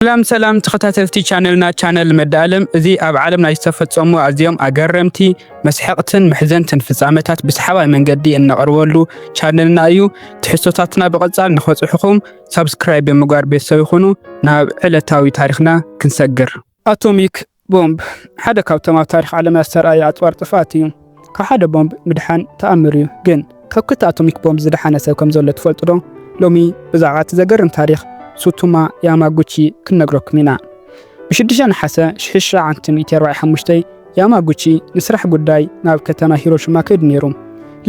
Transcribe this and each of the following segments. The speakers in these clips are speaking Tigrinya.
ሰላም ሰላም ተኸታተልቲ ቻነልና ቻነል መዳኣለም እዚ ኣብ ዓለም ናይ ዝተፈጸሙ ኣዝዮም ኣገረምቲ መስሐቕትን መሕዘንትን ፍጻመታት ብሰሓባይ መንገዲ እነቕርበሉ ቻነልና እዩ። ትሕዝቶታትና ብቐጻል ንኸጽሑኹም ሳብስክራይብ ብምግባር ቤተሰብ ይኹኑ። ናብ ዕለታዊ ታሪኽና ክንሰግር። ኣቶሚክ ቦምብ ሓደ ካብቶም ኣብ ታሪኽ ዓለምና ዝተርኣዩ ኣጽዋር ጥፍኣት እዩ። ካብ ሓደ ቦምብ ምድሓን ተኣምር እዩ። ግን ካብ ክልተ ኣቶሚክ ቦምብ ዝደሓነ ሰብ ከም ዘሎ ትፈልጡዶ? ሎሚ ብዛዕባ እቲ ዘገርም ታሪኽ ሱቱማ ያማጉቺ ክንነግረኩም ኢና። ብ ሽዱሽተ ነሓሰ ሽሕሽሕ ዓምቲ ሚእቲ ኣርባዕየ ሓሙሽተ ያማጉቺ ንስራሕ ጉዳይ ናብ ከተማ ሂሮሽማ ከይዱ ነይሩ።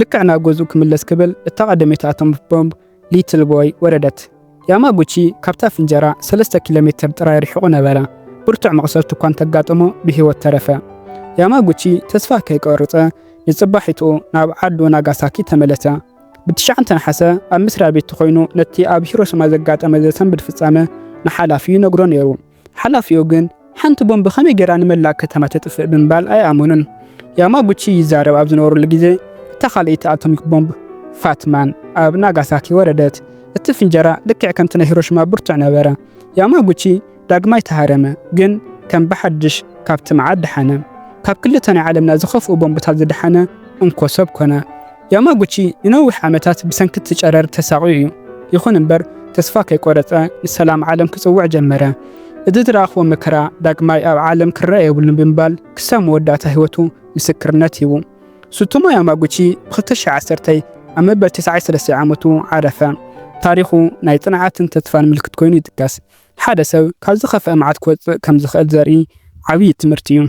ልክዕ ናብ ገዝኡ ክምለስ ክብል እታ ቀደመይቲ ኣቶሚክ ቦምብ ሊትል ቦይ ወረደት። ያማጉቺ ካብታ ፍንጀራ ሰለስተ ኪሎ ሜትር ጥራይ ርሒቑ ነበረ። ብርቱዕ መቑሰልቲ እኳ እንተጋጠሞ ብህይወት ተረፈ። ያማጉቺ ተስፋ ከይቆርጸ ንጽባሒትኡ ናብ ዓዱ ናጋሳኪ ተመለሰ። ብትሽዓንተ ነሓሰ ኣብ መስርያ ቤቱ ኮይኑ ነቲ ኣብ ሂሮሽማ ዘጋጠመ ዘሰንብድ ፍጻመ ንሓላፊኡ ይነግሮ ነይሩ። ሓላፊኡ ግን ሓንቲ ቦምብ ከመይ ጌራ ንመላእ ከተማ ተጥፍእ ብምባል ኣይኣመኑን። ያማጉቺ ይዛረብ ኣብ ዝነበረሉ ግዜ፣ እታ ካልኣይቲ ኣቶሚክ ቦምብ፣ ፋት ማን፣ ኣብ ናጋሳኪ ወረደት። እቲ ፍንጀራ ልክዕ ከምቲ ናይ ሂሮሺማ ብርቱዕ ነበረ። ያማጉቺ ዳግማይ ተሃረመ፣ ግን ከም ብሓድሽ ካብቲ መዓት ደሓነ። ካብ ክልተ ናይ ዓለምና ዝኸፍኡ ቦምብታት ዝደሓነ እንኮ ሰብ ኮነ። ያማጉቺ ንነዊሕ ዓመታት ብሰንኪ እቲ ጨረር ተሳቕዩ እዩ። ይኹን እምበር ተስፋ ከይቈረጸ ንሰላም ዓለም ክጽውዕ ጀመረ። እዚ ዝረኣኽዎ መከራ ዳግማይ ኣብ ዓለም ክረኣ የብሉን ብምባል ክሳብ መወዳእታ ህይወቱ ምስክርነት ሂቡ። ሱቶሞ ያማጉቺ ብ ክልተ ሽሕ ዓሰርተ ኣብ መበል ተስዓይ ሰለስተ ዓመቱ ዓረፈ። ታሪኹ ናይ ጽንዓትን ተስፋን ምልክት ኰይኑ ይጥቀስ። ሓደ ሰብ ካብ ዝኸፍኣ መዓት ክወጽእ ከም ዝኽእል ዘርኢ ዓብዪ ትምህርቲ እዩ።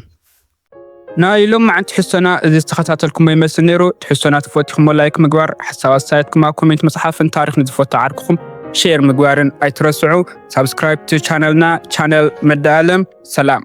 ናይ ሎምዓንቲ ትሕዝቶና እዚ ዝተኸታተልኩሞ ይመስል ነይሩ። ትሕዝቶና ተፈቲኹሞ ላይክ ምግባር፣ ሓሳብ ኣስተያየትኩም ኣብ ኮሜንት ምጽሓፍን ታሪኽ ንዝፈቱ ዓርክኹም ሼር ምግባርን ኣይትረስዑ። ሳብስክራይብ ቻነልና ቻነል መዳ ኣለም። ሰላም።